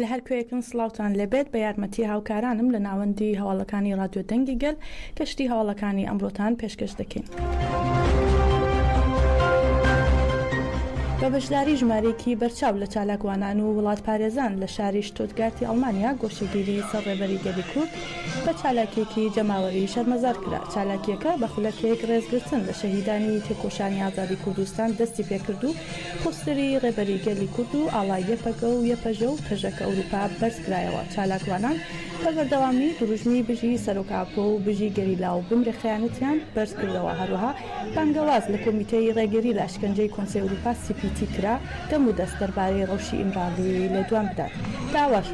لە هەر کوێیەکن سڵاوتان لێبێت بە یارمەتی هاوکارانم لە ناوەندی هەواڵەکانی ڕادیۆ دەنگی گەل گەشتی هەواڵەکانی ئەمڕۆتان پێشکەش دەکەین. بە بەشداری ژمارەیەکی بەرچاو لە چالاکوانان و وڵاتپارێزان لە شاری شتوتگارتی ئەڵمانیا گۆشەگیری سەر ڕێبەری گەلی کورد بە چالاکیەکی جەماوەری شەرمەزار کرا چالاکیەکە بە خولەکێک ڕێزگرتن لە شەهیدانی تێکۆشانی ئازادی کوردستان دەستی پێکرد و پۆستەری ڕێبەری گەلی کورد و ئاڵای یەپەگە و یەپەژە و پەژەکە ئورووپا بەرز کرایەوە، چالاکوانان بە بەردەوامی درووژمی بژی سەرۆک ئاپۆ و بژی گەریلا و بمرە خەیانەتیان بەرز کردەوە، هەروەها بانگەواز لە کۆمیتەی ڕێگریی لە ئەشکەنجەی کۆنسەی ئورووپا سی پی تی کرا دەم و دەست دەربارەی ڕەوشی ئیمراڵیی لێدوان بدات، داواش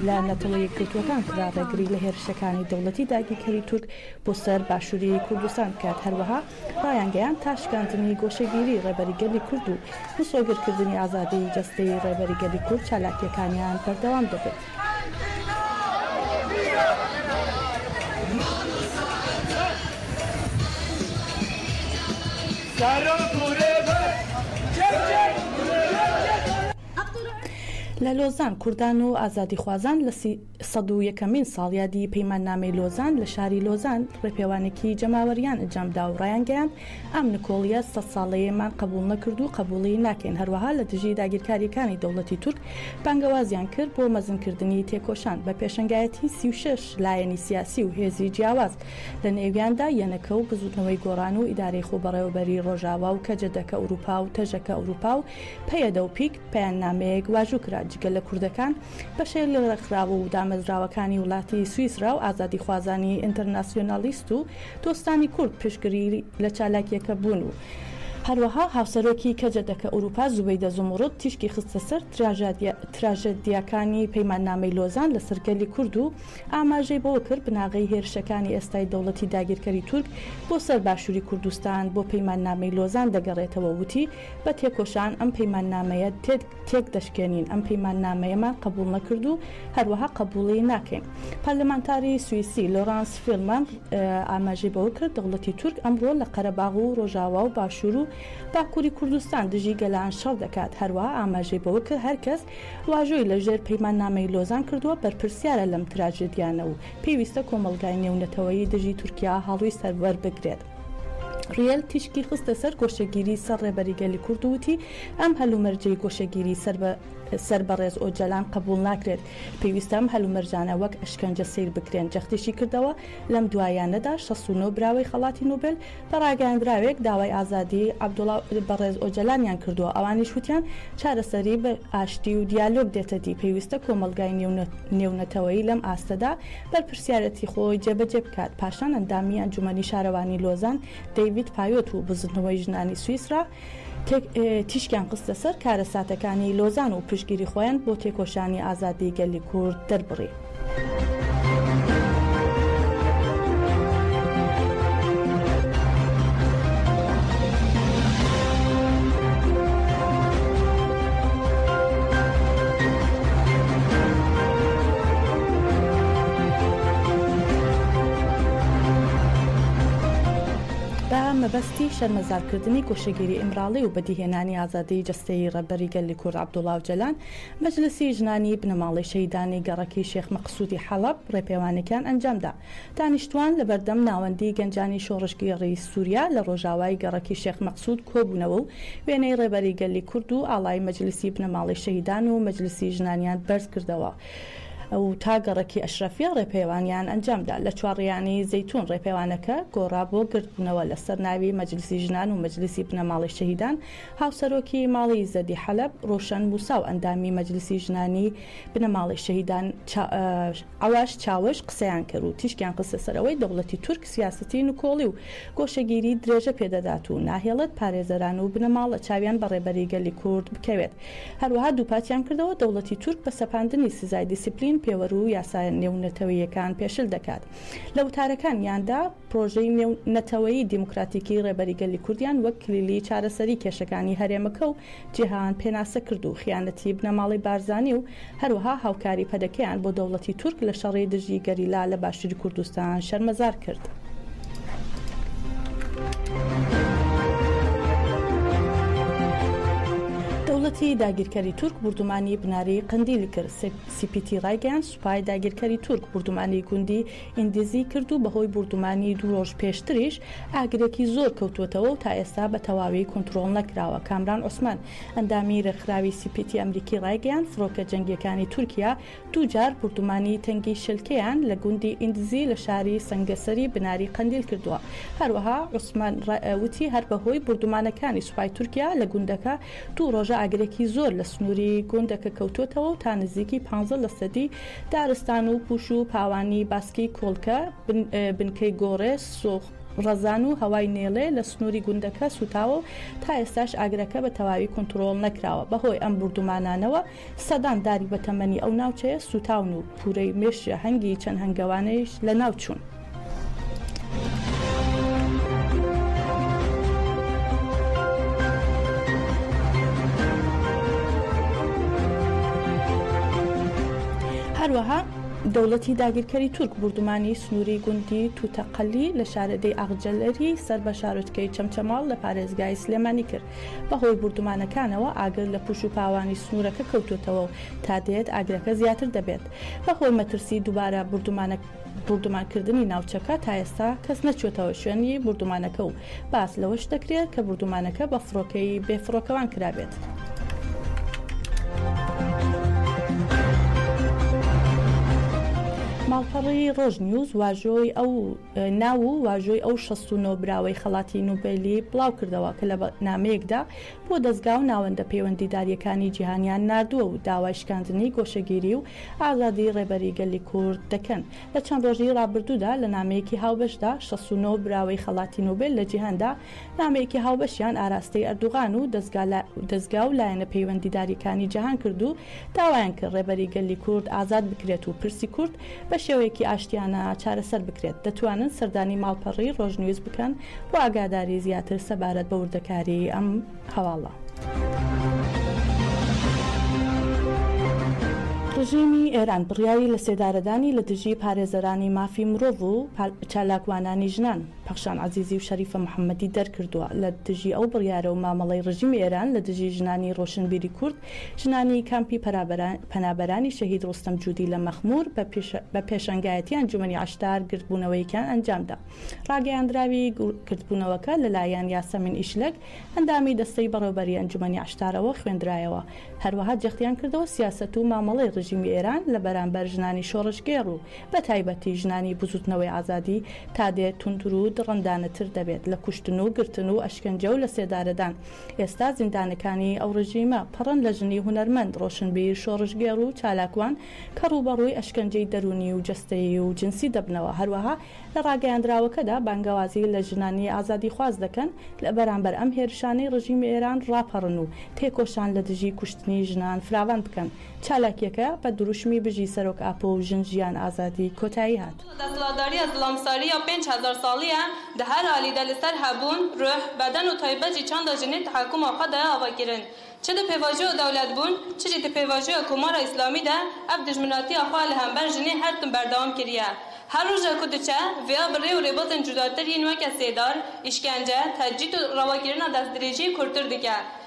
لە نەتەوە یەکگرتووەکان کرا ڕێگری لە هێرشەکانی دەوڵەتی داگیرکەری تورک بۆ سەر باشووری کوردستان بکات، هەروەها. ڕایانگەیاند تا شکاندنی گۆشەگیری ڕێبەری گەلی کورد و مسۆگەرکردنی ئازادیی جەستەیی ڕێبەری گەلی کورد چالاکییەکانیان بەردەوام دەبن. لە لۆزان کوردان و ئازادیخوازان لە. سەد و یەکەمین ساڵیادی پەیماننامەی لۆزان لە شاری لۆزان ڕێپێوانێکی جەماوەریان ئەنجامدا و ڕایانگەیاند ئەم نکۆڵیە سەد ساڵەیەمان قبوڵ نەکرد و قبوڵی ناکەین هەروەها لە دژی داگیرکارییەکانی دەوڵەتی تورک بانگەوازیان کرد بۆ مەزنکردنی تێکۆشان بە پێشەنگایەتی سی و شەش لایەنی سیاسی و هێزی جیاواز لە نێویاندا یەنەکە و بزوتنەوەی گۆڕان و ئیدارەی خۆبەڕێوەبەری ڕۆژاوا و کەجەدەکە ئوروپا و تەژەکە ئوروپا و پەیەدە و پیک پەیامنامەیەک واژوو کرا، جگە لە کوردەکان، بەشێک لە ڕێکخراوە و دامەزراوەکانی وڵاتی سویسرا و ئازادیخوازانی ئینتەرناسیۆنالیست و دۆستانی کورد پشتگری لە چالاکییەکە بوون و هەروەها هاوسەرۆکی کەجە دەکە ئورووپا زوبەیدە زومڕوت تیشکی خستە سەر تراژێدیاکانی پەیماننامەی لۆزان لەسەر گەلی کورد و ئاماژەی بەوە کرد بناغەی هێرشەکانی ئێستای دەوڵەتی داگیرکەری تورک بۆ سەر باشووری کوردستان بۆ پەیماننامەی لۆزان دەگەڕێتەوە وتی بە تێکۆشان ئەم پەیماننامەیە تێک دەشکێنین، ئەم پەیماننامەیەمان قبوڵ نەکرد و هەروەها قبوڵی ناکەین. پارلمانتاری سویسی لۆرانس فیلمەن ئاماژەی بەوە کرد، دەوڵەتی تورک ئەمڕۆ لە قەرەباغ و ڕۆژاوا و باشوور و باکووری کوردستان دژی گەلان شەڕ دەکات، هەروەها ئاماژەی بەوە کرد، هەر کەس واژۆی لە ژێر پەیماننامەی لۆزان کردووە بەرپرسیارە لەم تراژێدیانە و پێویستە کۆمەڵگای نێونەتەوەیی دژی تورکیا هەڵوی سەروەر بگرێت. ڕیێل تیشکی خستە سەر گۆشەگیری سەر ڕێبەری گەلی کورد و وتی، ئەم هەلومەرجەی گۆشەگیری سەر بە ڕێز ئۆجالان قبوڵ ناکرێت، پێویستە ئەم هەلومەرجانە وەک ئەشکەنجە سەیر بکرێن، جەختیشی کردەوە، لەم دواییانەدا شەست و نۆ براوەی خەڵاتی نوبێل بە ڕاگەیاندراوێک داوای ئازادیی عەبدوڵا بەڕێز ئۆجەلانیان کردووە، ئەوانیش وتیان، چارەسەری بە ئاشتی و دیالۆگ دێتەدی، پێویستە کۆمەڵگای نێونەتەوەیی لەم ئاستەدا بەرپرسیارێتی خۆی جێبەجێ بکات، پاشان ئەندامی ئەنجومەنی شارەوانی لۆزان دەیڤید پایۆت و بزوتنەوەی ژنانی سویسرا تیشکیان خستە سەر کارەساتەکانی لۆزان و پشتگیری خۆیان بۆ تێکۆشانی ئازادی گەلی کورد دەربڕی. بە مەبەستی شەرمەزارکردنی گۆشەگیری ئیمراڵی و بەدیهێنانی ئازادیی جەستەیی ڕێبەری گەلی کورد عەبدوڵا ئۆجەلان، مەجلسی ژنانی بنەماڵەی شەهیدانی گەڕەکی شێخ مەقسوودی حەڵەب ڕێپێوانێکیان ئەنجامدا. دانیشتووان لەبەردەم ناوەندی گەنجانی شۆڕشگێڕی سووریا لە ڕۆژاوای گەڕەکی شێخ مەقسوود کۆبوونەوە و وێنەی ڕێبەری گەلی کورد و ئاڵای مەجلسی بنەماڵەی شەهیدان و مەجلسی ژنانیان بەرزکردەوە. و تا گەڕەکی ئەشرەفیە ڕێپێوانیان ئەنجامدا. لە چوارڕیانی زەیتون ڕێپێوانەکە گۆڕا بۆ گردبوونەوە لەسەر ناوی مەجلیسی ژنان و مەجلیسی بنەماڵەی شەهیدان، هاوسەرۆکی ماڵی زەدی حەلەب ڕۆشەن موسا و ئەندامی مەجلیسی ژنانی بنەماڵەی شەهیدان عەواش چاوش قسەیان کرد و تیشکیان خستە سەر ئەوەی دەوڵەتی تورک سیاسەتی نکۆڵی و گۆشەگیری درێژە پێدەدات و ناهێڵێت پارێزەران و بنەماڵە چاویان بە ڕێبەری گەلی کورد بکەوێت هەروەها دووپاتیان کردەوە دەوڵەتی تورک بە سەپاندنی سزای دیسیپلین پێوەر و یاسا نێونەتەوەییەکان پێشل دەکات. لە وتارەکانیاندا پرۆژەی نێو نەتەوەیی دیموکراتیکی ڕێبەری گەلی کوردیان وەک کلیلی چارەسەری کێشەکانی هەرێمەکە و جیهان پێناسە کرد و خیانەتی بنەماڵەی بارزانی و هەروەها هاوکاری پەدەکەیان بۆ دەوڵەتی تورک لە شەڕی دژی گەریلا لە باشوری کوردستان شەرمەزار کرد. دەوڵەتی داگیرکەری تورک بوردومانی بناری قەندیلی کرد سی پی تی ڕایگەیاند سوپای داگیرکەری تورک بوردومانی گوندی ئیندیزی کرد و بەهۆی بوردومانی دوو ڕۆژ پێشتریش ئاگرێکی زۆر کەوتووەتەوە و تا ئێستا بە تەواوی کۆنترۆڵ نەکراوە کامران عوسمان ئەندامی ڕێکخراوی سی پی تی ئەمریکی ڕایگەیاند فڕۆکە جەنگییەکانی تورکیا دووجار بوردومانی تەنگی شلکێیان لە گوندی ئیندزی لە شاری سەنگەسەری بناری قەندیل کردووە. هەروەها عوسمان ڕەئ وتی هەر بەهۆی بوردومانەکانی سوپای تورکیا لە گوندەکە دوو ڕۆژە ئاگرێکی زۆر لە سنووری گوندەکە کەوتووەتەوە و تا نزیکی پانزە لەسەدی دارستان و پوش و پاوانی باسکی کۆڵکە، بنکەی گۆڕێ، سوخ ڕەزان و هەوای نێلێ لە سنووری گوندەکە سووتاوە و تا ئێستاش ئاگرەکە بە تەواوی کونتڕۆڵ نەکراوە. بەهۆی ئەم بوردومانانەوە سەدان داری بەتەمەنی ئەو ناوچەیە سووتاون و پوورەی مێشجە هەنگی چەند هەنگەوانێیش لەناو چوون. هەروەها دەوڵەتی داگیرکەری تورک بوردومانی سنووری گوندی تووتەقەلی لە شارەدێی ئاغجەلەری سەر بە شارۆچکەی چەمچەماڵ لە پارێزگای سلێمانی کرد. بەهۆی بوردومانەکانەوە ئاگر لە پوش و پاوانی سنورەکە کەوتۆتەوە و تا دێت ئاگرەکە زیاتر دەبێت بەهۆی مەترسی دوبارە بوردومان کردنی ناوچەکە تا ئێستا کەس نەچۆتەوە شوێنی بوردومانەکە و باس لەوەش دەکرێت کە بوردومانەکە بە فڕۆکەی بێ فڕۆکەوان کرابێت. ماڵپەڕی ڕۆژ نیوز واژۆی ئەو ناو و واژۆی ئەو شەست و نۆ براوەی خەڵاتی نوبێلی بڵاوکردەوە کە لە نامەیەکدا بۆ دەزگا و ناوەندە پەیوەندیدارییەکانی جیهانیان ناردووە و داوای شکاندنی گۆشەگیری و ئازادی ڕێبەری گەلی کورد دەکەن. لە چەند ڕۆژی ڕابردوودا لە نامەیەکی هاوبەشدا شەست و نۆ براوەی خەڵاتی نوبێل لە جیهاندا نامەیەکی هاوبەشیان ئاراستەی ئەردوغان و دەزگا و لایەنە پەیوەندیدارییەکانی جیهان کرد و داوایان کرد ڕێبەری گەلی کورد ئازاد بکرێت و پرسی کورد بە شێوەیەکی ئاشتیانە چارەسەر بکرێت، دەتوانن سەردانی ماڵپەڕی ڕۆژنیوز بکەن بۆ ئاگاداری زیاتر سەبارەت بە وردەکاریی ئەم هەواڵە. ڕژێمی ئێران بڕیاری لەسێدارەدانی لە دژی پارێزەرانی مافی مرۆڤ و چالاکوانانی ژنان، پەخشان عەزیزی و شەریفە محەممەدی دەرکردووە، لە دژی ئەو بڕیارە و مامەڵەی ڕژیمی ئێران لە دژی ژنانی ڕۆشنبیری کورد ژنانی کامپی پەنابەرانی شەهید ڕۆستەم جودی لە مەخموور بە پێشەنگایەتی ئەنجومەنی عەشتار گردبوونەوەیەکیان ئەنجامدا. ڕاگەیاندراوی گردبوونەوەکە لەلایەن یاسەمین ئیشلەک، ئەندامی دەستەی بەڕێوەبەریی ئەنجومەنی عەشتارەوە خوێندرایەوە، هەروەها جەختیان کردەوە سیاسەت و مامەڵەی ڕێژیمی ئێران لە بەرامبەر ژنانی شۆڕشگێڕ و بەتایبەتی ژنانی بزووتنەوەی ئازادی تادێت توندرو دڕندانەتر دەبێت لە کوشتن و گرتن و ئەشکەنجە و لەسێدارەدان ئێستا زیندانەکانی ئەو ڕژیمە پڕن لە ژنی هونەرمەند، ڕۆشنبیر، شۆڕشگێڕ و چالاکوان کە ڕووبەڕووی ئەشکەنجەی دەروونی و جەستەیی و جنسی دەبنەوە، هەروەها لە ڕاگەیاندراوەکەدا بانگەوازی لە ژنانی ئازادیخواز دەکەن لە بەرامبەر ئەم هێرشانەی ڕژیمی ئێران ڕاپەڕن و تێکۆشان لە دژی کوشتنی ژنان فراوان بکەن. چالاکیەکە بە دروشمی بژی سەرۆک ئاپۆ و ژن ژیان ئازادی کۆتایی هات. ئەو دەسڵاتداریە زڵەمساریە پێنج هەزار ساڵیە دە هەر ئالیدە لە سەر هەبوون، روح، بەدەن و تایبەت جی چەندە ژنی تەحەکوم و قەدە ئاوا گرن چ دە پێواژۆە دەولەت بوون چ جی دە پێواژۆە کۆمارە ئیسلامی دە ئەڤ دوژمناتیە خوە لە هەمبەر ژنی هەرتم بەردەوام کریە هەر روژە کو دچە ڤیا بڕێ و رێبازێن جوداتر یین وەکە سێدار، ئیشکەنجە، تەجریت و رەواگیرنا دەسدرێژیی کورتر دکە.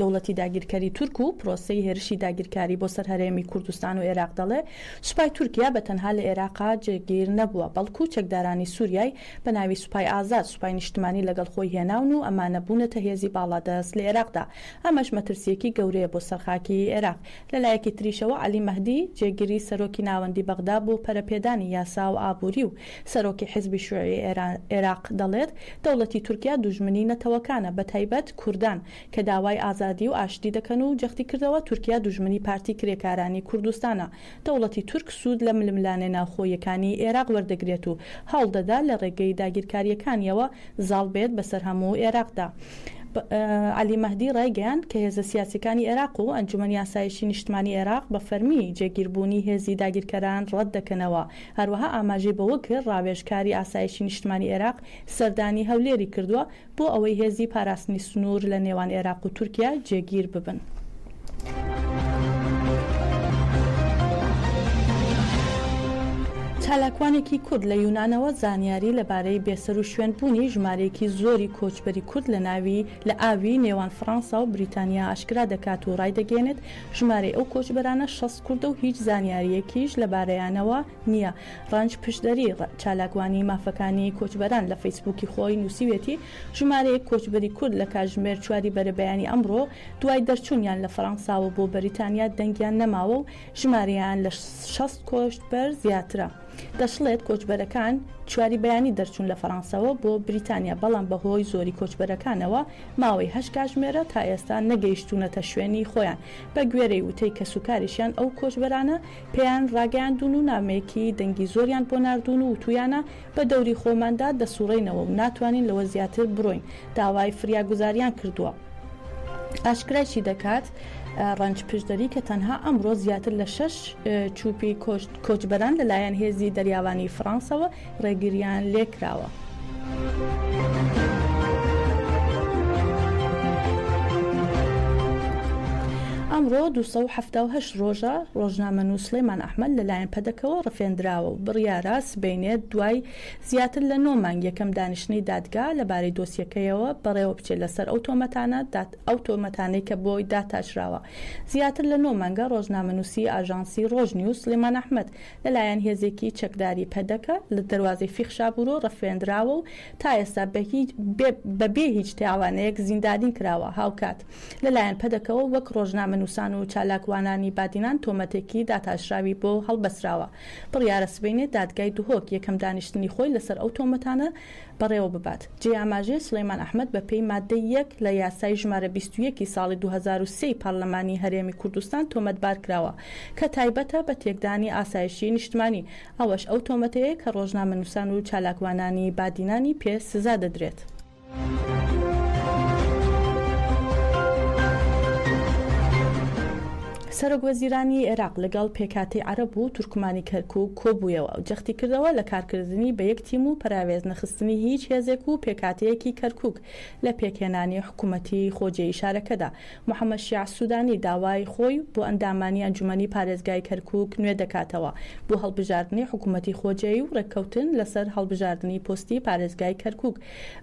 دەوڵەتی داگیرکەری تورک و پرۆسەی هێرشی داگیرکاری بۆ سەر هەرێمی کوردستان و ئێراق دەڵێ، سوپای تورکیا بە تەنها لە ئێراقا جێگیر نەبووە، بەڵکو چەکدارانی سوریای بە ناوی سوپای ئازاد، سوپای نیشتمانی لەگەڵ خۆی هێناون و ئەمانە بوونەتە هێزی باڵادەست لە ئێراقدا. ئەمەش مەترسییەکی گەورەیە بۆ سەر خاکی ئێراق. لە لایەکی تریشەوە عەلی مەهدی، جێگری سەرۆکی ناوەندی بەغدا بۆ پەرەپێدانی یاسا و ئابووری و سەرۆکی حزبی شوعی عێراق دەڵێت، دەوڵەتی تورکیا دوژمنی نەتەوەکانە، بەتایبەت کوردان، کە داوای ئازادی و ئاشتی دەکەن و جەختیکردەوە، تورکیا دوژمنی پارتی کرێکارانی کوردستانە، دەوڵەتی تورک سوود لە ململانێ ناوخۆییەکانی عێراق وەردەگرێت و هەوڵدەدات لە رێگەی داگیرکارییەکانییەوە زاڵ بێت بەسەر هەموو عێراقدا. عەلی مەهدی رایگەیاند، کە هێزە سیاسییەکانی عێراق و ئەنجومەنی ئاسایشی نیشتمانی عێراق بە فەرمی جێگیربوونی هێزی داگیرکەران رەتدەکەنەوە، هەروەها ئاماژەی بەوە کرد، ڕاوێژکاری ئاسایشی نیشتمانی عێراق سەردانی هەولێری کردووە بۆ ئەوەی هێزی پاراستنی سنوور لە نێوان عێراق و تورکیا جێگیر ببن. چالاکوانێکی کورد لە یونانەوە زانیاری لەبارەی بێسەروشوێن بوونی ژمارەیەکی زۆری کۆچبەری کورد لە ئاوی نێوان فڕەنسا و بریتانیا ئاشکرا دەکات و ڕایدەگەیەنێت، ژمارەی ئەو کۆچبەرانە شەست کوردە و هیچ زانیارییەکیش لەبارەیانەوە نییە. رەنج پشدەری، چالاکوانی مافەکانی کۆچبەران لە فەیسبووکی خۆی نووسیویەتی، ژمارەیەک کۆچبەری کورد لە کاتژمێر چواری بەرەبەیانی ئەمڕۆ دوای دەرچوونیان لە فەرەنساوە بۆ بەریتانیا دەنگیان نەماوە و ژمارەیان لە شەست کۆچبەر زیاترە. دەشڵێت کۆچبەرەکان چواری بەیانی دەرچوون لە فەرانسەوە بۆ بریتانیا، بەڵام بەهۆی زۆری کۆچبەرەکانەوە ماوەی هەشت کاژمێرە تا ئێستا نەگەیشتوونەتە شوێنی خۆیان، بەگوێرەی وتەی کەسوکاریشیان ئەو کۆچبەرانە پێیان راگەیاندوون و نامەیەکی دەنگی زۆریان بۆ ناردوون و وتوویانە بە دەوری خۆماندا دەسوڕێینەوە و ناتوانین لەوە زیاتر برۆین، داوای فریاگوزاریان کردووە. ئاشکراشی دەکات ڕەنج پشدەری کە تەنها ئەمڕۆ زیاتر لە شش چوپی کۆچبەران لەلایەن هێزی دەریاوانی فڕانسەوە ڕێگریان لێکراوە. ئەمڕۆ 1970 ڕۆژە ڕۆژنامە نووسڵێمان ئەحمد لەلایەن پەدەکەوە ڕفێندراوە و بڕیارە سبینێت دوای زیاتر لە نۆ مانگ یەکەم دانیشتنەی دادگا لەبارەی دۆسیەکەیەوە بەڕێوە بچێت لەسەر ئەو تۆمەتانە ئەو تۆمەتانەی کە بۆی داتاشراوە زیاتر لە نۆ مانگە ڕۆژنامەنووسی ئاژانسی ڕۆژ نیوز سڵیمان ئەحمەد لەلایەن هێزێکی چەکداری پەدەکە لە دەروازەی فیخ شابورۆ ڕفێندراوە و تا ئێستا بە بێ هیچ تاوانێک زیندانی کراوە هاوکات لەلایەن پەدەکەوە وەک ڕۆژنامەنووسان و چالاکوانانی بادینان تۆمەتێکی داتاشراوی بۆ هەڵبەسراوە بڕیارە سبەینێ دادگای دهۆک یەکەم دانیشتنی خۆی لەسەر ئەو تۆمەتانە بەڕێوە ببات. جێی ئاماژەیە سولەیمان ئەحمەد بە پێی ماددەی یەک لە یاسای ژمارە بیست و یەک ی ساڵی دوو هەزار و سێ ی پارلەمانی هەرێمی کوردستان تۆمەتبار کراوە کە تایبەتە بە تێکدانی ئاسایشی نیشتمانی، ئەوەش ئەو تۆمەتەیە کە ڕۆژنامەنووسان و چالاکوانانی بادینانی پێ سزا دەدرێت. سەرۆک وەزیرانی عێراق لەگەڵ پێکاتی عەرەب و تورکمانی کەرکووک کۆبوویەوە و جەختی کردەوە لە کارکردنی بە یەک تیم و پەراوێز نەخستنی هیچ هێزێک و پێکاتەیەکی کەرکووک لە پێکهێنانی حکوومەتی خۆجێی شارەکەدا. محەمەد شیاع سوودانی داوای خۆی بۆ ئەندامانی ئەنجوومەنی پارێزگای کەرکووک نوێ دەکاتەوە بۆ هەڵبژاردنی حکوومەتی خۆجێی و ڕێککەوتن لەسەر هەڵبژاردنی پۆستی پارێزگای کەرکووک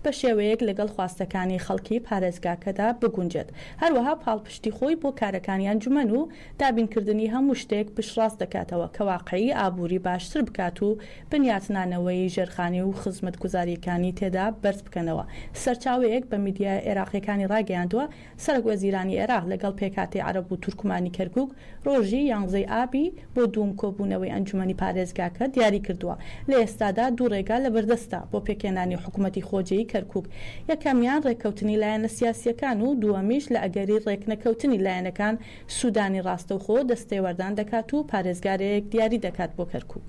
بە شێوەیەک لەگەڵ خواستەکانی خەڵکی پارێزگاکەدا بگونجێت، هەروەها پاڵپشتی خۆی بۆ کارەکانی ئەنجومەن و دابینکردنی هەموو شتێک پشتڕاست دەکاتەوە کە واقعی ئابووری باشتر بکات و بنیاتنانەوەی ژێرخانی و خزمەتگوزارییەکانی تێدا بەرز بکەنەوە سەرچاوەیەک بە میدیا عێراقییەکانی ڕاگەیاندووە، سەرەک وەزیرانی عێراق لەگەڵ پێکهاتەی عەرەب و تورکمانی کەرکوک ڕۆژی یانزەی ئابی بۆ دووم کۆبوونەوەی ئەنجومەنی پارێزگاکە دیاری کردووە، لە ئێستادا دوو ڕێگا لەبەردەستە بۆ پێکهێنانی حکومەتی خۆجێی کەرکوک، یەکەمیان ڕێککەوتنی لایەنە سیاسییەکان و دووەمیش لە ئەگەری ڕێکنەکەوتنی لایەنەکان سودانی ڕاستەوخۆ دەستێوەردان دەکات و پارێزگارێک دیاری دەکات بۆ کەرکوک.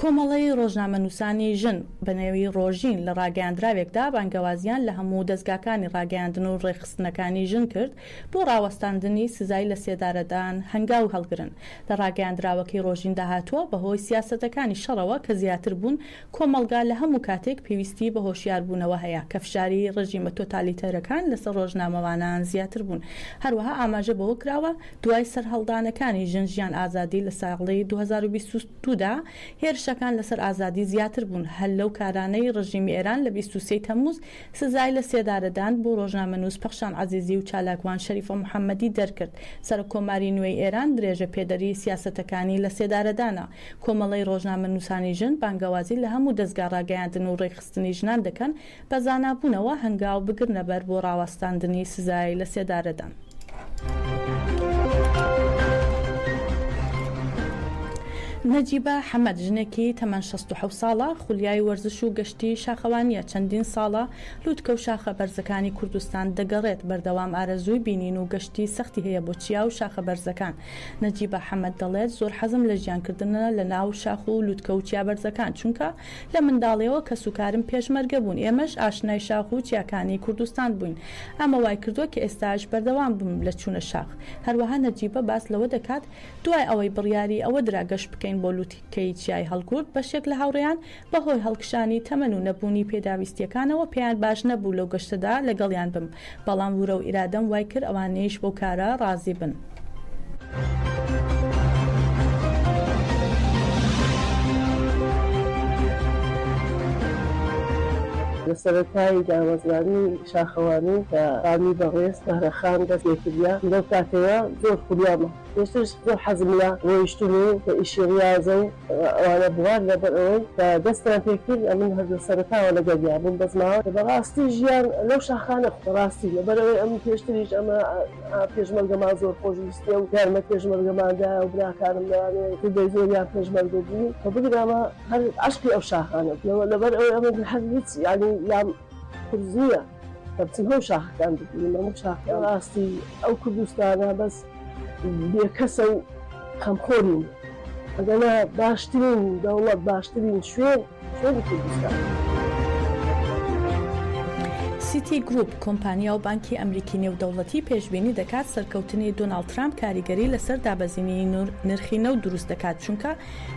کۆمەڵەی ڕۆژنامەنووسانی ژن بە نێوی ڕۆژین لە ڕاگەیاندراوێکدا بانگەوازیان لە هەموو دەزگاکانی ڕاگەیاندن و ڕێکخستنەکانی ژن کرد بۆ ڕاوەستاندنی سزای لە سێدارەدان هەنگاو هەڵگرن لە ڕاگەیاندراوەکەی ڕۆژیندا هاتووە بەهۆی سیاسەتەکانی شەڕەوە کە زیاتر بوون کۆمەڵگا لە هەموو کاتێک پێویستیی بە هۆشیاربوونەوە هەیە کە فشاری ڕێژیمە تۆتالیتەرەکان لەسەر ڕۆژنامەوانان زیاتر بوون. هەروەها ئاماژە بەوە کراوە، دوای سەرهەڵدانەکانی ژن ژیان ئازادی لە ساڵی دوو هەزار و بیست و دوو دا، هێرشەکان لەسەر ئازادی زیاتر بوون، هەر لەو کارانەی ڕێژیمی ئێران لە بیست و سێ ی تەمموز سزای لە سێدارەدان بۆ ڕۆژنامەنووس پەخشان عەزیزی و چالاکوان شەریفە محەممەدی دەرکرد، سەرۆککۆماری نوێی ئێران درێژەپێدەری سیاسەتەکانی لە سێدارەدانە. کۆمەڵەی ڕۆژنامەنووسانی ژن بانگەوازی لە هەموو دەزگا ڕاگەیاندن و ڕێکخستنی ژنان دەکەن بە زانابوونەوە هەنگاو بگرنە بەر بۆ ڕاوەستاندنی سزای لەسێدارەدان. نەجیبە حەمەد ژنێکی تەمەن شەست و حەوت ساڵە، خولیای وەرزش و گەشتی شاخەوانییە، چەندین ساڵە لووتکە و شاخە بەرزەکانی کوردستان دەگەڕێت، بەردەوام ئارەزووی بینین و گەشتی سەختی هەیە بۆ چیا و شاخە بەرزەکان، نەجیبە حەمەد دەڵێت، زۆر حەزم لە ژیانکردنە لە ناو شاخ و لوتکە و چیا بەرزەکان، چونکە لە منداڵییەوە کەسوکارم پێشمەرگە بوون، ئێمەش ئاشنای شاخ و چیاکانی کوردستان بووین، ئەمە وایکردووە کە ئێستاش بەردەوام بم لە چوونە شاخ. هەروەها نەجیبە باس لەوە دەکات، دوای ئەوەی بڕیاری ئەوە درا گەشت بکەین بۆ لوتکەی چیای هەڵگورد، بەشێک لە هاوڕێیان، بەهۆی هەڵکشانی تەمەن و نەبوونی پێداویستییەکانەوە پێیان باش نەبوو لەو گەشتەدا لەگەڵیان بم، بەڵام ورە و ئیرادەم وای کرد ئەوانیش بەو کارە ڕازی بن. لە سەرەتای دامەزراندنی شاخەوانی کە خانووی بەڕێز زەهرەخان دەست لێ کردییە، لەو کاتەوە زۆر خولیامە. پێشتریش زۆر حەزم لە ڕۆیشتن و ئیشی ڕیاضە و ئەوانە بوار لەبەر ئەوەی کە دەستیان پێکرد ئەمن هەر لە سەرەتاوە لەگەڵیا بووم بەس ماوە کە بەڕاستی ژیان لەو شاخانە بەڕاستی لەبەر ئەوەی ئەم پێشتریش ئەمە پێشمەرگەمان زۆر خۆشویستیە و یارمە پێشمەرگەماندا و براکانم لەوانەیە کردەی زۆریان پێشمەرگە بوو کە بگرامە هەر عشقی ئەو شاخانە لەبەر ئەوەی ئەمە هەر هیچ یالی لام قورس نیە کە بچم هەموو شاخەکان ببینم هەموو شاخەکان بەڕاستی ئەو کوردستانە بەس بێکەسە و خەمخۆرین ئەگەنا باشترین دەوڵەت باشترین شوێن شوێنی کوردستان. سیتی گروپ، کۆمپانیا و بانکی ئەمریکی نێودەوڵەتی پێشبینی دەکات سەرکەوتنی دۆناڵد ترامپ کاریگەری لەسەر دابەزینی نرخی نەوت دروست دەکات چونکە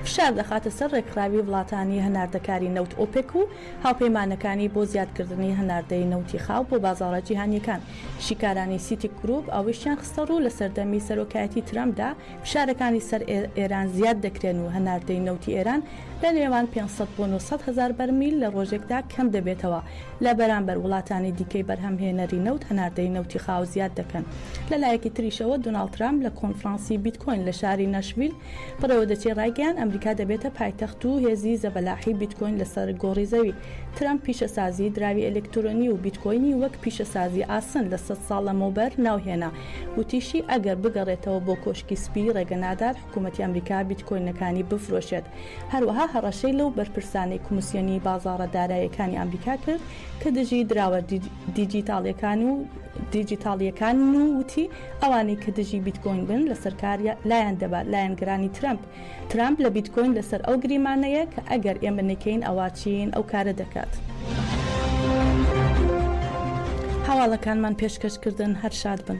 فشار دەخاتە سەر ڕێکخراوی وڵاتانی هەناردەکاری نەوت ئۆپێک و هاوپەیمانەکانی بۆ زیادکردنی هەناردەی نەوتی خاو بۆ بازاڕە جیهانییەکان، شیکارانی سیتیک گرووپ ئەوەیشیان خستەڕوو، لە سەردەمی سەرۆکایەتی ترەمپدا فشارەکانی سەر ئێران زیاد دەکرێن و هەناردەی نەوتی ئێران لە نێوان پێنج سەد بۆ نۆ سەد هەزار بەرمیل لە ڕۆژێکدا کەم دەبێتەوە لە بەرامبەر وڵاتانی دیکەی بەرهەمهێنەری نەوت هەناردەی نەوتی خاو زیاد دەکەن لەلایەکی تریشەوە دۆناڵد ترەمپ لە کۆنفرانسی بیتکۆین لە شاری ناشڤیل پڕێوەدەچێ ڕایگەیاند ئەمریکا دەبێتە پایتەخت و هێزی زەبەلاحی بیتکۆین لەسەر گۆڕی زەوی. ترەمپ پیشەسازی دراوی ئەلکترۆنی و بیتکۆینی وەک پیشەسازی ئاسن لە سەد ساڵ لەمەوبەر ناوهێنا. وتیشی ئەگەر بگەڕێتەوە بۆ کۆشکی سپی ڕێگەنادات حکومەتی ئەمریکا بیتکۆینەکانی بفرۆشێت. هەروەها هەڕەشەی لەو بەرپرسانەی کۆمسیۆنی بازاڕە دارایەکانی ئەمریکا کرد کە دژی دراوە دیجیتاڵیەکانن و وتی، ئەوانەی کە دژی بیتکۆین بن لەسەر کار لایان دەبات لایەنگرانی ترەمپ ترامپ لە بیتکۆین لەسەر ئەو گریمانەیە کە ئەگەر ئێمە نەکەین ئەوا چین ئەو کارە دەکات. هەواڵەکانمان پێشکەش کردن هەر شاد بن.